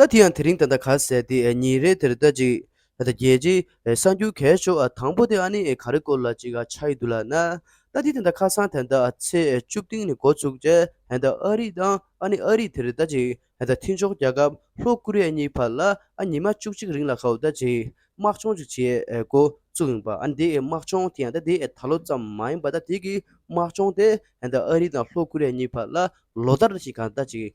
ད་དེ་ཡང་དེ་རིང་ད་ལྟ་ག་ཟེར་ཏེ་ཉིན་རེ་དེར་ལྟ་ཅིག། ད་ལྟ་རྒྱལ་སྤྱིའི་གསར་འགྱུར་གས་ཆོག་ཨ་དང་པོ་དེ་ཨ་ནི་ག་རེ་སྐོར་ལ་ཅིག་ཨ་ཆགས་ཡི་འདུག་ལ་ན། ད་དེ་དེ་ད་ཁ་སང་དེ་ད་ཚེས་བཅུ་སྟེང་ནས་འགོ་ཚུགས་རྗེས་དེ་ད་ཨ་རི་དང་ཨ་ནི་ཨ་རི་དེར་ལྟ་ཅིག་དེ་ད་ཐེངས་ཕྱོགས་རྒྱག་སྐབས་ལྷོ་ཀུ་རེ་ཡ་གཉིས་བར་ལ་ཨ་ཉི་མ་བཅུ་གཅིག་རིང་ལ་ཁའོ་ད་ཅིག་དམག་སྦྱོང་ཅིག་བྱེད་འགོ་ཚུགས་ཡིན་པ་ཨ་ནི་དེའི་དམག་སྦྱོང་དེ་ཡང་ད་དེའི་ད་ལོ་ཙམ་མ་ཡིན་པ་ད་དེ་གི་དམག་སྦྱོང་དེ་དེ་ད་ཨ་རི་དང་ལྷོ་ཀུ་རེ་ཡ་གཉིས་བར་ལ་ལོ་ལྟར་ཅིག་ག་ད་ཅིག་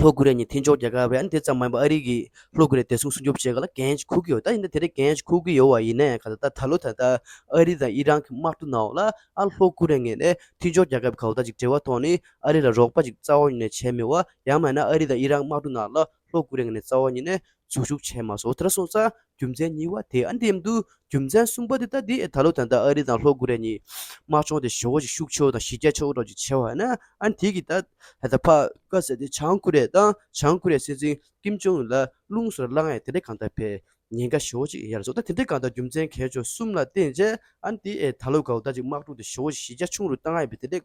ལྷོ་ཀོ་རི་ཡ་ཉིད་མཐིང་ཕྱོགས་རྒྱལ་ཁབ་རེད་འདི་ཙམ་མ་ཡིན་པར་ཨ་རིའི་ལྷོ་ཀོ་རི་ཡ་བདེ་སྲུང་སྲུང་སྐྱོབ་བྱེད་ག་ལ་འགན་འཁུར་གི་ཡོད་ད་ཡིན་ན་དེ་རིགས་འགན་འཁུར་གི་ཡོད་བ་ཡིན་ནའི་ག་ད་ད་ལོ་ད་ལྟ་ཨ་རི་དང་ཨི་རན་གྱི་དམག་འཁྲུག་ནང་འོག་ལ་ཨ་ལྷོ་ཀོ་རི་ཡ་ངེས་ནས་མཐིང་ཕྱོགས་རྒྱལ་ཁབ་ག་ཨོ་ད་ཅིག་བྲེལ་བ་ཐོག་ནས་ཨ་རི་ལ་རོགས་པ་ཅིག་རྩ་བ་ཉིད་ནས་བྱས་མེད་བ་ཡང་མ་ཡིན་ན་ཨ་རི་དང་ཨི་རན་དམག་འཁྲུག་ནང་ལ་ལྷོ་ཀོ་རི་ཡ་ངེས་ནས་རྩ་བ་ཉིད་ནས་ཟུག་ཟུག་བྱས་མ་སོང་ཐར་སོང་ཙང་རྒྱུ་མཚན་གཉིས་བ་དེ་ཨ་འདེམས་འདུག་རྒྱུ་མཚན་གསུམ་པ་འདི་ལྟ་སྟེ་ད་ལོ་ད་ལྟ་ཨ་རི་དང་ལྷོ་ཀོ་རེ་གཉིས་དམག་སྦྱོང་དེ་ཞོ་ཞིག་ཤུགས་ཆེའོ་དང་ཞི་རྒྱ་ཆེའོ་སོགས་ཀྱི་བྱས་བ་ན་ཨ་འདི་གིས་ད་ལྟ་ཕ་ཀ་ཟེར་དེ་བྱང་ཀོ་རེ་དང་བྱང་ཀོ་རེ་སྲིད་འཛིན་ཀིམ་ཇོང་ཨུན་ལ་རླུང་སོར་བླངས་ཨེ་དེ་འདྲ་གང་ལྟར་བས་ཉེན་ཁ་ཞོ་ཞིག་ཡར་བཟོ་ད་དེ་འདྲ་གང་ལྟར་རྒྱུ་མཚན་གལ་ཆོག་གསུམ་ལ་བརྟེན་རྗེས་ཨ་འདི་ཨེ་ད་ལོ་གའུ་ད་ཅིག་དམག་སྒྲུག་དེ་ཞོ་ཞི་རྒྱ་ཆུང་རུ་བཏང་ཨེ་བས་དེ་འདྲ་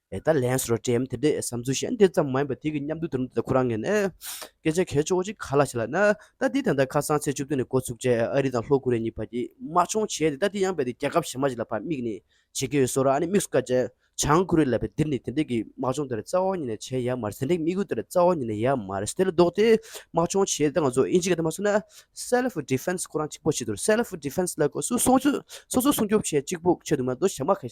ཨེ་ད་ལན་སོ་བྲེམ་དེ་འདྲས་བསམ་ཚུལ་གཞན་དེ་ཙམ་མ་ཡིན་པ་དེ་གི་མཉམ་འདུག་དེ་རིང་འདི་ལྟ་ཁོ་རང་ངས་ནི། སྐད་ཆ་གལ་ཆོག་ཅིག་ག་ལ་བྱེད་ལ་ནི། ད་འདི་ད་ལྟ་ཁ་སང་ཚེས་བཅུ་བདུན་ནས་འགོ་ཚུགས་རྗེས་ཨ་རི་དང་ལྷོ་ཀོ་རི་ཡ་གཉིས་བར་གྱི་དམག་སྦྱོང་བྱས་ཏེ་ད་འདི་ཡང་བས་ཏེ་རྒྱལ་ཁབ་གཞན་མ་ཞིག་ལ་བར་དམིགས་ནས་བྱེད་ཀྱི་ཡོད་སོ་ར་ཨ་ནི་དམིགས་སུ་བཀར་རྗེས་བྱང་ཀོ་རི་ཡ་ལ་བས་འདིར་ནི་དེ་འདྲས་ཀྱི་དམག་སྦྱོང་དེ་ར་རྩ་བ་ཉིད་ནས་བྱས་ཡ་མ་རེད་དེ་འདྲས་ཀྱི་དམིགས་ཡུལ་དེ་ར་རྩ་བ་ཉིད་ནས་ཡ་མ་རེད་དེ་ལ་ལྡོག་སྟེ་དམག་སྦྱོང་བྱས་ཏེ་ད་ང་ཚོ་ཨིན་ཇི་ག་དེ་མ་སོང་ན། Self Defense ཁོ་རང་གཅིག་པོ་བྱེད་དུ་ར Self Defense ལ་ཁོ་སུ་སོང་ཚུལ་སོ་སོ་སྲུང་སྐྱོབ་བྱེད་གཅིག་པོ་བྱེད་དུ་མ་འདུག་ཞབས་མ་ཁ་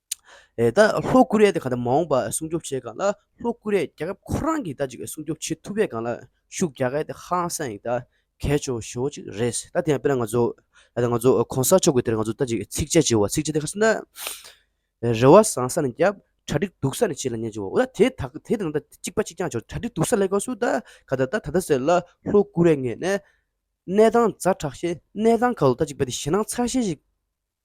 ད་ལྷོ་ཀོ་རི་ཡ་དེ་ག་ད་མ་འོངས་པ་སྲུང་སྐྱོབ་བྱེད་སྒང་ལ་ལྷོ་ཀོ་རི་ཡ་རྒྱལ་ཁབ་ཁོ་རང་གི་ད་ཅིག་སྲུང་སྐྱོབ་བྱེད་ཐུབ་པའི་སྒང་ལ་ཤུགས་རྒྱག་གལ་དེ་ཧ་ལང་སང་ཡིག་ད་གལ་ཆོ་ཞོ་ཅིག་རེད་ད་དེ་ཡང་དཔེར་ན་ང་ཚོ་ད་ང་ཚོ་གོང་ས་མཆོག་གི་དེར་ང་ཚོ་ད་ཅིག་ཚིགས་བཅད་བྱེད་བ་ཚིགས་བཅད་དེ་ག་ཚོད་ན་རེ་བ་བཟང་ས་ནས་བརྒྱབ་གྲ་སྒྲིག་སྡུག་ས་ནས་བྱེད་ལ་ཉན་བྱེད་བ་འོ་ད་དེ་ད་དེ་དང་ད་ཅིག་པ་ཅིག་ཀྱང་བྱོ་གྲ་སྒྲིག་སྡུག་ས་ལས་ག་སུ་ད་ག་ད་ད་ད་ད་ཟེར་ལ་ལྷོ་ཀོ་རི་ཡ་ངས་ནས་གནས་སྟངས་རྫ་དྲག་ཤེས་གནས་སྟངས་ག་ལོ་ད་ཅིག་པ་དེ་ཞེད་སྣང་ཚ་ཤེས་ཤིག་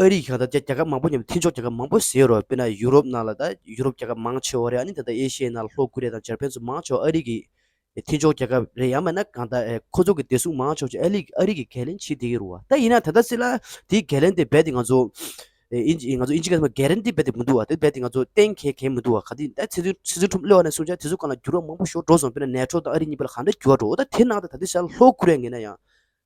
ཨ་རིས་གང་ལྟར་རྒྱ་རྒྱ་ཁབ་མང་པོ་མཉམ་དུ་མཐུན་ཕྱོགས་རྒྱལ་ཁབ་མང་པོ་ཟེར་རོ་དཔེར་ན་ཡུ་རོབ་ནང་ལ་ད་ཡུ་རོབ་རྒྱལ་ཁབ་མང་ཆེ་བ་རེད་ཨ་ནི་ད་ལྟ་ཨེ་ཤི་ཡའི་ནང་ལ་ལྷོ་ཀུ་རེ་དང་འཇར་པན་ཚོ་མང་ཆེ་བ་ཨ་རིས་ཀྱི་མཐུན་ཕྱོགས་རྒྱལ་ཁབ་རེད་ཡང་མེད་ན་གང་ལྟར་ཁོ་ཚོ་གི་བདེ་སྲུང་མང་ཆོག་ཆོག་ཨ་ལིས་ཨ་རིས་ཀྱི་གས་ལེན་བྱེད་བསྡད་ཀྱི་རུ་བ་ད་ཡིན་ན་ད་ལྟ་སི་ལ་དེའི་གས་ལེན་དེ་རྦད་དེ་ང་ཚོ་ཨིན་ཇི་ཨིན་ང་ཚོ་ཨིན་ཇི་གས་ལེན་གས་རེན་དེ་རྦད་དེ་མི་འདུག་བ་དེ་རྦད་དེ་ང་ཚོ་གཏན་གས་གས་མི་འདུག་བ་ག་དུས་ད་ཚེ་ཚུན་ཚེ་ཚུན་ཁྲོམ་གླེ་བ་ནས་བཟུང་ཆ་དེ་ཚོ་གང་ལ་འགྱུར་བ་མང་པོ་ཞོག་འགྲོ་སོང་དཔེར་ན་ནེ་ཏྲོ་དང་ཨ་རིས་གཉིས་པ་ལ་གང་འདྲ་འགྱུར་བ་འགྲོ་འོ་ད་དེ་ཤར་ལྷོ་ཀུ་རེ་ཡ་ངེས་ན་ཡང་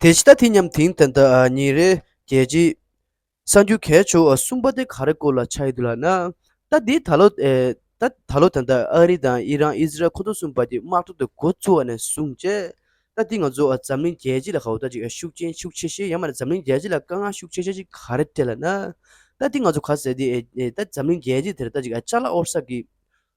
དེ་ཇི་ལྟ་དེ་སྙམ་དེང་དེ་ལྟ་ཉིན་རེ་བརྒྱད་ཅེས། གསང་རྒྱུད་གས་ཆོ་གསུམ་པ་དེ་ག་རེ་སྐོར་ལ་ཆགས་ཡོད་འདུག་ལགས་ན། ད་འདི་ད་ལོ་ད་ལོ་དང་ཐད་ཨ་རི་དང་དབྱི་རང་ཨི་ཟི་རལ་ཁོ་ཚོ་གསུམ་པ་དེ་དམག་གྲོགས་དེ་འགོ་བཙུགས་བ་ནས་བཟུང་ཅེས། ད་འདི་ང་ཚོ་འཛམ་གླིང་རྒྱལ་སྤྱི་ལ་ག་འུ་ཐག་ཅིག་ཤུགས་རྐྱེན་ཤུགས་ཆེ་ཤེས་ཡང་མ་འཛམ་གླིང་རྒྱལ་སྤྱི་ལ་དཀའ་ངལ་ཤུགས་ཆེ་ཤེས་ཅིག་ག་རེ་སྤྲད་ལ་ན། ད་འདི་ང་ཚོ་ག་ཟེ་འདི་ད་འཛམ་གླིང་རྒྱལ་སྤྱི་དེར་ད་ཅིག་ལྕགས་ལ་ཨོར་ས་གི།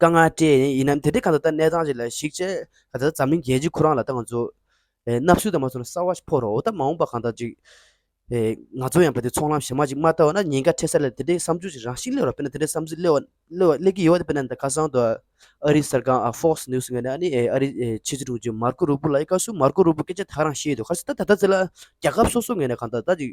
དཀའ་ངལ་སྤྲད་ཡིན་ཡིན་ནམ་དེ་འདྲའི་གང་ཟག་ལྟར་གནས་སྟངས་ཅིག་ལ་གཞིགས་ཆེ་ད་ལྟ་འཛམ་གླིང་རྒྱལ་སྤྱིའི་ཁོ་རང་ལ་ལྟ་ང་ཚོ་ནག་བསུ་དང་མ་བསུ་ན་གསར་བ་ཞིག་ཕོག་རོགས་ད་མ་འོངས་པ་གང་ཟག་ཅིག་ང་ཚོ་ཡང་བོད་དེ་ཚོང་ལམ་བཞི་མ་ཅིག་མ་ལྟ་བ་ན་ཉེན་ཁ་འཕྲད་ས་ལས་དེ་འདྲའི་བསམ་ཚུལ་ཞིག་རང་ཤི་སླེ་བ་དཔེར་ན་དེ་འདྲའི་བསམ་ཚུལ་སླེ་བ་སླེ་གི་ཡོད་པ་དཔེར་ན་ད་ཁ་སང་དུ་ཨ་རིའི་གསར་ཁང་ཨ Fox News ངན་ཨ་ནི་ཨ་རིའི་ཕྱི་སྲིད་དྲུང་ཆེ Marco Rubio ལ་ཡི་ག་བསུ Marco Rubio སྐད་ཆ་དག་རང་བཤད་ཡོད་དུ་ཁར་སི་ད་ད་ལྟ་ཚེ་ལ་རྒྱ་ཁབ་སོ་སོ་ངན་ན་གང་ཟག་ད་ཅིག་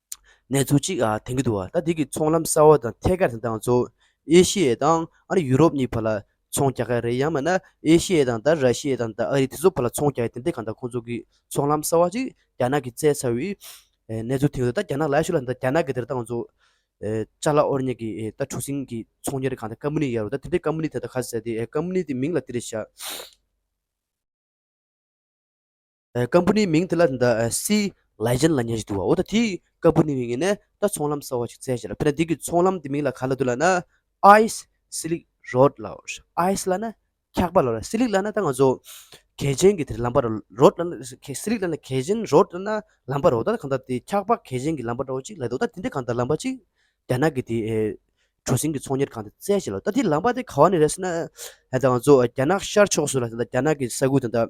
གནས་ཚུལ་གཅིག་དྲན་གྱི་འདུག་ད་འདི་གི་ཚོང་ལམ་གསར་བ་དང་ཐད་ཀར་དེ་དང་གཙོ་བོ་ཨེ་ཤི་ཡའི་དང་ཨ་རི་ཡུ་རོབ་གཉིས་བར་ལ་ཚོང་རྒྱག་གི་རེད་ཡང་མིན་ན་ཨེ་ཤི་ཡའི་དང་ད་ར་ཤི་ཡའི་དང་ད་ཨ་རི་དེ་ཚོ་བར་ལ་ཚོང་རྒྱག་གི་དེ་འདི་གང་ལྟར་ཁོང་ཚོ་གི་ཚོང་ལམ་གསར་བ་ཅིག་རྒྱ་ནག་གི་བཙལ་ཚར་བའི་གནས་ཚུལ་དེང་དུ་ད་རྒྱ་ནག་ལ་ཤུ་ལ་ད་རྒྱ་ནག་གི་དེར་དང་གཙོ་ཅཱ་ལ་ཨོ་རི་ཉེ་གི་ད་གྲུ་སིང་གི་ཚོང་གཉེར་གང་ད་ཀ་མུ་ནི་ཡར་རོ་ད་དེ་འདི་ཀ་མུ་ནི་དེ་ད་ག་ཟེ་དེ་ཀ་མུ་ནི་དེ་མིང་ལ་དེ་རེད་བཞག། སྐམ་པོ་ནི་མིང་དེ་ལ་ད་སི་ལའི་ཅན་ལ་ཉེ་ཞིག་འདུག་བ་འོ་ད་དེའི་སྐམ་པོ་ནི་ངས་ནི་ད་ཚོང་ལམ་གསར་བ་ཞིག་བཙལ་བྱས་ལ་ཕེ་ན་འདི་གི་ཚོང་ལམ་དེ་མིང་ལ་ག་ལ་འདོད་ལ་ན Ice Slick Road ལ Ice ལ་ན་འཁྱག་པ་ལ Slick ལ་ན་ད་ང་ཚོ་གལ་ཆེན་གི་དེར་ལམ་པར Road ལ་ན Slick ལ་ན་གལ་ཆེན Road ལ་ན་ལམ་པར་འོ་ད་གང་ལྟར་དེ་འཁྱག་པ་གལ་ཆེན་གི་ལམ་པ་འདྲ་བོ་ཅིག་ལ་འདུག་ད་དེ་འདི་གང་ལྟར་ལམ་པ་ཅིག་རྒྱ་ནག་གི་དེ་གྲུ་གཟིངས་ཀྱི་ཚོང་གཉེར་ཁང་དེ་བཙལ་བྱས་ལ་འོ་ད་དེའི་ལམ་པ་དེ་ག་བ་ནས་རེད་ཟེར་ན་ད་ང་ཚོ་རྒྱ་ནག་ཤར་ཕྱོགས་སུ་ལ་ད་རྒྱ་ནག་གི་ས་ཁུལ་དང་ད་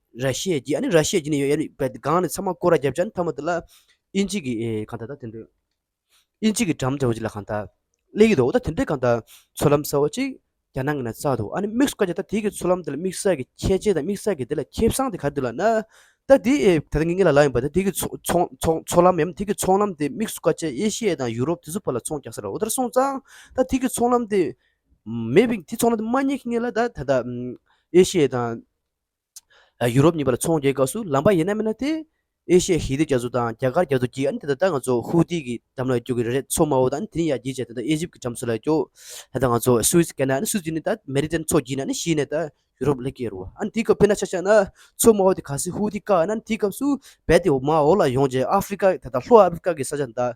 ར་ཤེས་ཀྱི་ཨ་ནི་ར་ཤེས་ཀྱི་ནི་ཡོད་ཡ་ནི་བད་ག་གང་ནི་ཚ་མ་ཀོ་ར་རྒྱབ་ཅག་ནི་ཐ་མ་དེ་ལ་ཨི་འཇིག་གི་གང་ད་ད་དེ་འདོད་ཨི་འཇིག་གི་འགྲམ་འཇའ་འོ་ཅི་ལ་གང་ད་ལེ་ཡི་དོ་ད་དེ་འདྲའི་གང་ད་ཚོ་ལམ་ས་བ་ཅིག་རྒྱ་ནང་གི་ན་ཚག་འདུག་ཨ་ནི་དམིགས་བཀའ་རྒྱ་ད་དེ་གི་ཚོ་ལམ་དེ་ལ་དམིགས་བསལ་གི་ཁྱད་ཆེ་ད་དམིགས་བསལ་གི་དེ་ལ་ཁྱད་བསང་དེ་ག་དུ་ལ་ན་ད་དེ་ད་ད་ངེད་ངེད་ལ་ལ་ཡིན་པ་ད་དེ་གི་ཚོ་ལམ་ཡམ་དེ་གི་ཚོང་ལམ་དེ་དམིགས་བཀའ་ཅེ་ཨེ་ཤེ་ཡ་དང་ཡུ་རོབ་དེ་ཚོ་བ་ལ་ཚོང་རྒྱག་ས་ར་འོ་ད་ར་སོང་ཙང་ད་དེ་གི་ཚོང་ལམ་དེ་མེད་པའི་དེ་ཚོང་ལམ་དེ་མ་རྙེད་ཁི་ངེད་ལ་ད་ད་ཨེ་ཤེ་ཡ་དང། ཡུ་རོབ་གཉིས་པ་ལ་ཚོང་རྒྱག་སྐབས་སུ་ལམ་པ་ཡེ་ན་མེད་ན་དེ་ཨེ་ཤེ་ཧི་དེ་རྒྱ་མཚོ་དང་རྒྱ་གར་རྒྱ་མཚོ་བརྒྱད་ཨ་ནི་དེ་ད་ལྟ་ང་ཚོ་ཧུའུ་ཏི་གི་འགྲམ་ལ་སྐྱོ་གི་རེད་རེད་མཚོ་དམའ་བོ་དང་ཨ་ནི་དེ་ནི་ཡར་རྒྱས་བྱས་ད་ལྟ་ཨེ་ཇིབ་གི་འགྲམ་མཚོ་ལ་སྐྱོ་ད་ལྟ་ང་ཚོ་སུའེ་ཙི་ཀེ་ན་ཨ་ནི་སུའེ་ཙི་ནི་ད་མེ་རི་ཏན་མཚོ་བརྒྱུད་ནས་ཨ་ནི་ཤི་ནས་ད་ཡུ་རོབ་ལ་སྐྱེ་རུ་བ་ཨ་ནི་དེའི་སྐབས་དཔེར་ན་ཆ་ཆག་ན་མཚོ་དམའ་བོ་དེ་ག་སེ་ཧུའུ་ཏི་བཀག་ཨ་ནི་དེའི་སྐབས་སུ་རྦད་དེ་མ་འོག་ལ་ཡོང་རྗེས་ཨ་ཧྥི་རི་ཀ་ད་ལྟ་ལྷོ་ཨ་ཧྥི་རི་ཀ་གི་ས་ཆ་འདའ་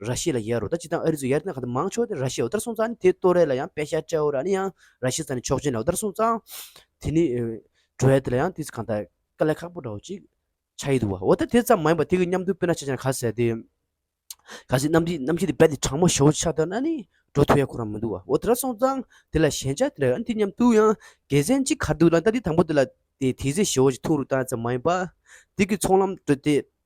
ར་ཤི་ཡ་ལ་ཡར་རོ་ད་སྤྱི་དང་ཨ་རི་ཚོ་ཡར་ཏན་ག་ད་མང་ཆོག་དེ་ར་ཤི་ཡའོ་དར་སོང་ཙང་ནི་དེ་ཏོ་རེ་ལ་ཡང་པེ་ཤ་ཏྲའོ་ར་ནི་ཡང་ར་ཤི་ས་ནི་ཆོག་ཅན་ལའོ་དར་སོང་ཙང་དེ་ནི་ཏྲོ་ཡ་དེ་ལ་ཡང་དེ་གང་ད་དཀའ་ལས་ཁག་པོ་འདྲའོ་ཅིག་ཆ་ཡི་འདུག་བ་འོ་ད་དེ་ཙམ་མ་ཡིན་པ་དེ་གི་མཉམ་དུ་དཔེར་ན་ཆ་ཅན་ག་ཟེ་དེ་ག་ཟེ་རྣམ་ཤེས་རྣམ་ཤེས་དེ་བད་དེ་དྲང་མོ་ཞོ་ཆ་ད་ན་ནི་ཏྲོ་ཐོ་ཡ་ཁོ་རང་མི་འདུག་བ་འོ་དར་སོང་ཙང་དེ་ལ་ཞན་ཆ་དེ་འདྲ་ཡོད་ན་དེ་མཉམ་དུ་ཡང་དགེ་མཚན་ཅིག་ག་འདུག་ལ་ད་དེ་དང་པོ་དེ་ལ་དེ་དེ་ཟེ་ཞོ་ཅིག་ཐུག་རུ་ཏང་ཙམ་མ་ཡིན་པ་དེ་གི་ཚོང་ལམ་ཏྲོ་དེ་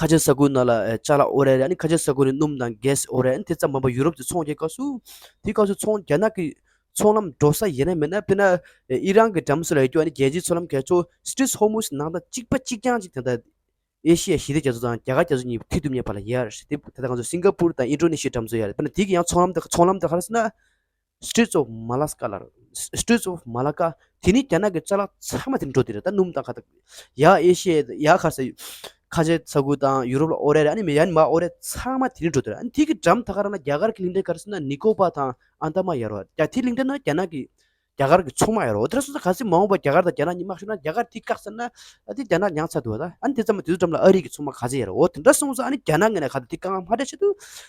ཁ་ཆེ་ས་ཁུལ་ནང་ལ་ལྕགས་ལ་ཨོ་རད་རེད་ཨ་ནི་ཁ་ཆེ་ས་ཁུལ་ནི་སྣུམ་དང་གས་ཨོ་རད་དེ་ཙམ་མིན་པར་ཡུ་རོབ་ཀྱི་ཚོང་རྒྱལ་ཁག་སུ་དེའི་སྐབས་སུ་ཚོང་རྒྱལ་ནག་གི་ཚོང་ལམ་འགྲོ་ས་ཡེ་ནས་མེད་ན་དཔེར་ན་ཨི་རན་གྱི་འགྲམ་སུ་ལ་ཡོད་རྒྱུ་ཨ་ནི་རྒྱལ་སྤྱིའི་ཚོང་ལམ་གས་ཆོ Strait Hormuz ནང་དང་གཅིག་པ་གཅིག་རྐྱང་གཅིག་དེ་དང་ཨེ་ཤི་ཡ་ཞི་བདེ་རྒྱ་མཚོ་དང་རྒྱ་གར་རྒྱ་མཚོ་གཉིས་མཐིལ་དུ་མཉམ་པ་ལ་ཡར་ཞི་བདེ་དེ་དང་ང་ཚོ་སིང་ག་པུར་དང་ཨིན་ཀྲོ་ནི་ཤིའི་འགྲམ་མཚོ་ཡར་རེད་དཔེར་ན་དེའི་གི་ཡང་ཚོང་ལམ་དང་ཚོང་ལམ་དང་ཧར་སི་ན Straits of Malacca། ལར Straits of Malacca། དེ་ནི་རྒྱ་ནག་གི་རྩ་ལག་ཚང་མ་དེར་འགྲོ་དེ་རེད་ད་སྣུམ་དང་ཁ་ཐག་ཡ་ཨེ་ཤི་ཡའི་ཡ་ཁ་ས་ཁ་ཆེ་ས་ཁུལ་དང་ཡུ་རོབ་ལ་ཨོ་རད་ཨ་ནི་མི་ཡ་ནི་མ་ཨོ་རད་ཚང་མ་དེ་རིང་འགྲོ་དེ་རེད་དེ་གི་འགྲམ་ཐ་ཁ་ར་ན་རྒྱ་གར་གི་གླིང་ཕྲན་ག་རེ་སུ་ན་ནི་ཀོ་པ་དང་ཨན་དཱ་མ་ཡ་རོ་རྒྱ་དེ་གླིང་ཕྲན་ན་རྒྱ་ནག་གི་རྒྱ་གར་གི་ཚོང་མ་ཡ་རོ་དེ་ར་སུ་ས་ག་ཚི་མ་འོངས་པ་རྒྱ་གར་དང་རྒྱ་ནག་གཉིས་དམག་ཤོར་ན་རྒྱ་གར་དེ་བཀག་ཚར་ན་ཨ་དེ་རྒྱ་ནག་ཉང་ཚ་འདུག་ཨ་ད་ཨ་ནི་དེ་ཙམ་མ་དེ་ཚོ་འགྲམ་ལ་ཨ་རི་གི་ཚོང་མ་ག་ཚི་ཡ་རོ་འོ་དེ་འདྲ་སོང་ཚ་ཨ་ནི་རྒྱ་ནག་ངན་ན་ག་དེ་དེ་བཀག་ང་མ་དྲ་ཆེ་དུ་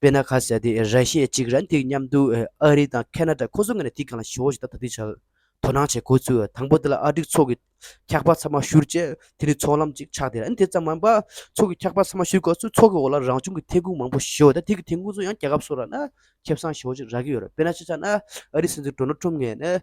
དཔེར་ན་ཁ་ཟས་དེ་ར་ཤི་ཡའི་གཅིག་ར་འདེགས་མཉམ་དུ་ཨ་རི་དང་ཁ་ན་ད་ཁོ་ཚོ་ངེས་ན་དེ་གང་ལ་ཞུ་བ་ཞིག་ད་ད་དུས་ཆར་དོ་སྣང་བྱེད་དགོས་ཚུལ་དང་པོ་དེ་ལ་ཨ་འགྲིག་ཚོགས་ཀྱི་འཁྱག་པ་ཚང་མ་བཞུར་རྗེས་དེ་ནི་ཚོགས་ལམ་ཅིག་ཆགས་ཏེ་ར་འདི་ཙམ་མིན་པར་ཚོགས་ཀྱི་འཁྱག་པ་ཚང་མ་བཞུར་དགོས་ཚུལ་ཚོགས་ཀྱི་འོག་ལ་རང་བྱུང་གི་ཐན་ཁུངས་མང་པོ་ཞེ་བོ་དང་དེ་གི་ཐན་ཁུངས་སུ་ཡང་རྒྱལ་ཁབ་སོགས་ར་ན་ཁེབས་སངས་ཞེ་བོ་ཅིག་རག་གི་ཡོད་རེད་དཔེར་ན་ཆེ་ཆགས་ན་ཨ་རིའི་སྲིད་འཛིན་གྲོ་ནོ་ཁྲོམ་ངེས་ན་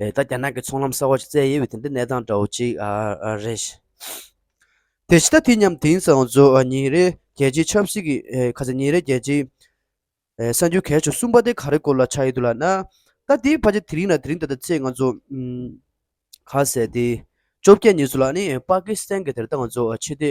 ད་རྒྱ་ནག་གི་ཚོང་ལམ་གསར་བ་ཞིག་བཙལ་ཡས་ཡོད་དེ་འདི་གནས་སྟངས་འདྲ་བོ་ཅིག་རེད། དེ་ཕྱི་ཟླ་དུས་མཉམ་དེང་སང་གཟོ་ཉིན་རེ་རྒྱལ་སྤྱིའི་ཆབ་སྲིད་ཀྱི་ཁ་ཚ་ཉིན་རེ་རྒྱལ་སྤྱིའི་གསར་འགྱུར་གལ་ཆུང་གསུམ་པ་དེ་ག་རེ་སྐོར་ལ་ཆགས་ཡོད་འདུག་ལགས་ན། ད་དེའི་བར་གྱི་དེ་རིང་ལ་དེ་རིང་ད་ལྟ་ཚེས་ང་ཚོ་ག་ཟེར་ཏེ། བཅོ་བརྒྱད་ཉིན་སུ་ལ་ནི་པཱ་ཀི་སི་ཐན་གྱི་དེར་ད་ང་ཚོ་ཆེད་དེ་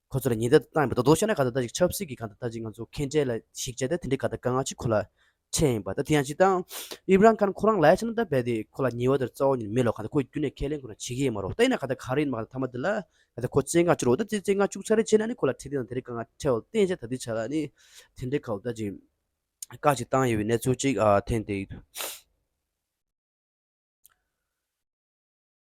ཁོ་ཚོར་ཉེན་བརྡ་བཏང་ཡོད་པ་རྡོག་རྡོག་ཤོད་ན་ག་ད་ལྟ་ཅིག་ཆབ་སྲིད་ཀྱི་ག་ད་ལྟ་ཅིག་ང་ཚོ་ཁེངས་དྲེགས་ལ་གཞིགས་བྱས་ཏེ་དེ་འདྲའི་ག་ད་དཀའ་ངལ་ཅིག་ཁོ་ལ་འཕྲད་ཡིན་པ་ད་དེ་ཡང་ཅིག་ཏང་ཨུའི་རང་ཁར་ཁོ་རང་ལས་བྱེད་ནང་ད་བལ་ཏེ་ཁོ་ལ་ཉེ་བ་དེར་རྩ་བ་ཉིད་མེད་ལོ་ག་ད་ཁོས་རྒྱུན་ནས་ཁས་ལེན་ཁོ་རང་བྱེད་ཀྱི་ཡོད་མ་རོ་ད་ཡིན་ན་ག་ད་ག་རེ་ཡིན་མ་ག་ད་མཐའ་མ་དེ་ལ་ག་ད་ཁོ་བཙན་བཀག་བཅུག་རོགས་ད་དེ་བཙན་བཀག་བཅུག་ཚར་རེ་བྱས་ན་ནི་ཁོ་ལ་ཁྲིད་དེ་དང་དེ་རེ་ག་ང་ཁྲལ་བ་བརྟན་བྱས་ད་དེ་བྱས་ལ་ནི་དེ་འདྲའི་ག་ད་ཅིག་བཀག་ཅིག་བཏང་ཡོད་པའི་གནས་ཚུལ་ཅིག་ཐེངས་དེའི་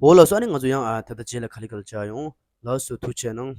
འོ་ལགས་སོ་ཨ་ནི་ང་ཚོ་ཡང་ད་ལྟ་རྗེས་ལ་ག་ལི་ག་ལ་བཅར་ཡོང་ལགས་སོ་ཐུགས་ཆེ་གནང།